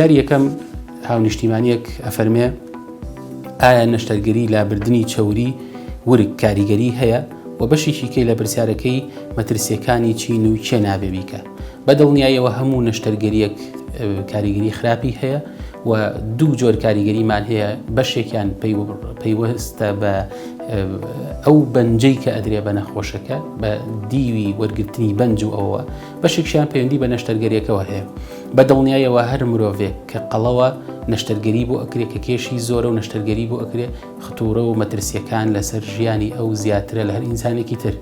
یاری یەکەم هاونیشتیمانیەک ئەفەرمێ ئایا نەشتەرگەری لابردنی چەوری ورک کاریگەری هەیە و بەشێکی کەی لە پرسیارەکەی مەترسیەکانی چین و چێ نابێ بیکە بە دڵنیایەوە هەموو نەشتەرگەریەک کاریگەری خراپی هەیە و دوو جۆر کاریگەریمان هەیە بەشێکیان پەیوەستە بە ئەو بەنجەی کە ئەدرێ بە نەخۆشەکە بە دیوی وەرگرتنی بەنج و ئەوە بەشێکیان پەیوەندی بە نەشتەرگەریەکەەوە هەیە بە دڵنیایەوە هەر مرۆڤێک کە قەڵەوە نەشتەرگەری بۆ ئەکرێ کە کێشی زۆرە و نەشتەرگەری بۆ ئەکرێ ختوڕە و مەترسیەکان لەسەر ژیانی ئەو زیاترە لە هەر ئینسانێکی تر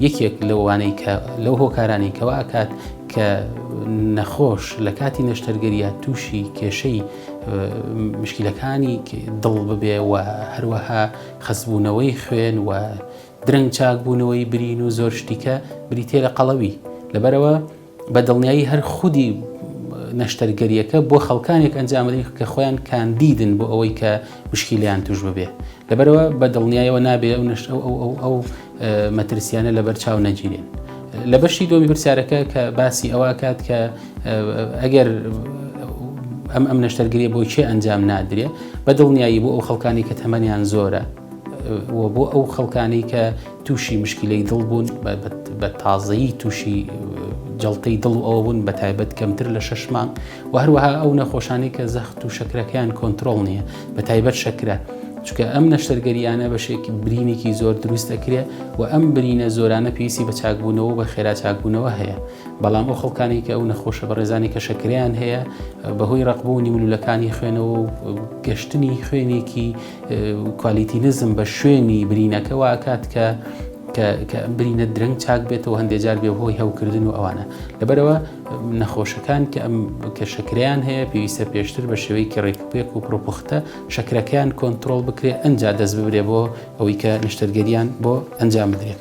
یەکێک لەوانەی کە لەو هۆکارانی کەوا ئەکات کە نەخۆش لە کاتی نەشتەرگەریە تووشی کێشەی مشکلەکانی دڵ ببێ و هەروەها خەسبوونەوەی خوێن و درەنگ چاکبوونەوەی برین و زۆر شتیکە بریتێ لە قەڵەوی لەبەرەوە بە دڵنیایی هەر خودی نەشتەرگەریەکە بۆ خەڵکانێک ئەنجامدەین کە خۆیان کاندیدن بۆ ئەوەی کە مشکیلیان توش ببێ لەبەرەوە بە دڵنیایەوە نابێ ئەو نشت ئەو ئەو ئەو مەترسیانە لەبەر چاو نەگیرێن لە بەشی دۆمی پرسیارەکە کە باسی ئەوکات کە ئەگەر ئەم ئەم نەشتەرگری بۆ چێ ئەنجام نادرێ بە دڵنیایی بۆ ئەو خەڵکانی کە تەمەنیان زۆرە بۆ ئەو خەڵکانی کە تووشی مشکیلەی دڵ بوون بە تازەیی تووشی جڵتەی دڵ و ئەوە بوون بە تایبەت کەمتر لە شش مانگ و هەروەها ئەو نەخۆشانی کە زەخت و شەکرەکەیان کۆنتترۆل نییە بە تایبەت شەکرە چکە ئەم نەشتەرگەریانە بەشێکی برینێکی زۆر دروست دەکرێ و ئەم برینە زۆرانە پێویستی بە چاکبوونەوە بە خێرا چاکبوونەوە هەیە بەڵام ئەو خەڵکانی کە ئەو نەخۆشە بەڕێزانی کە شەکریان هەیە بەهۆی ڕقبوونی ملولەکانی خوێنەوە و گەشتنی خوێنێکی کوالیتینزم بە شوێنی برینەکە واکات کە کە برینە درەنگ چاک بێتەوە هەندێک جار بێ هۆی هەوکردن و ئەوانە لەبەرەوە نەخۆشەکان کە ئەم کە شکریان هەیە پێویستە پێشتر بە شێوەیەکی ڕێکپێک و پرۆپختە شکرەکەیان کۆنتترۆل بکرێت ئەجا دەست ببرێ بۆ ئەوەی کە نشتەرگەریان بۆ ئەنجام بدرێت.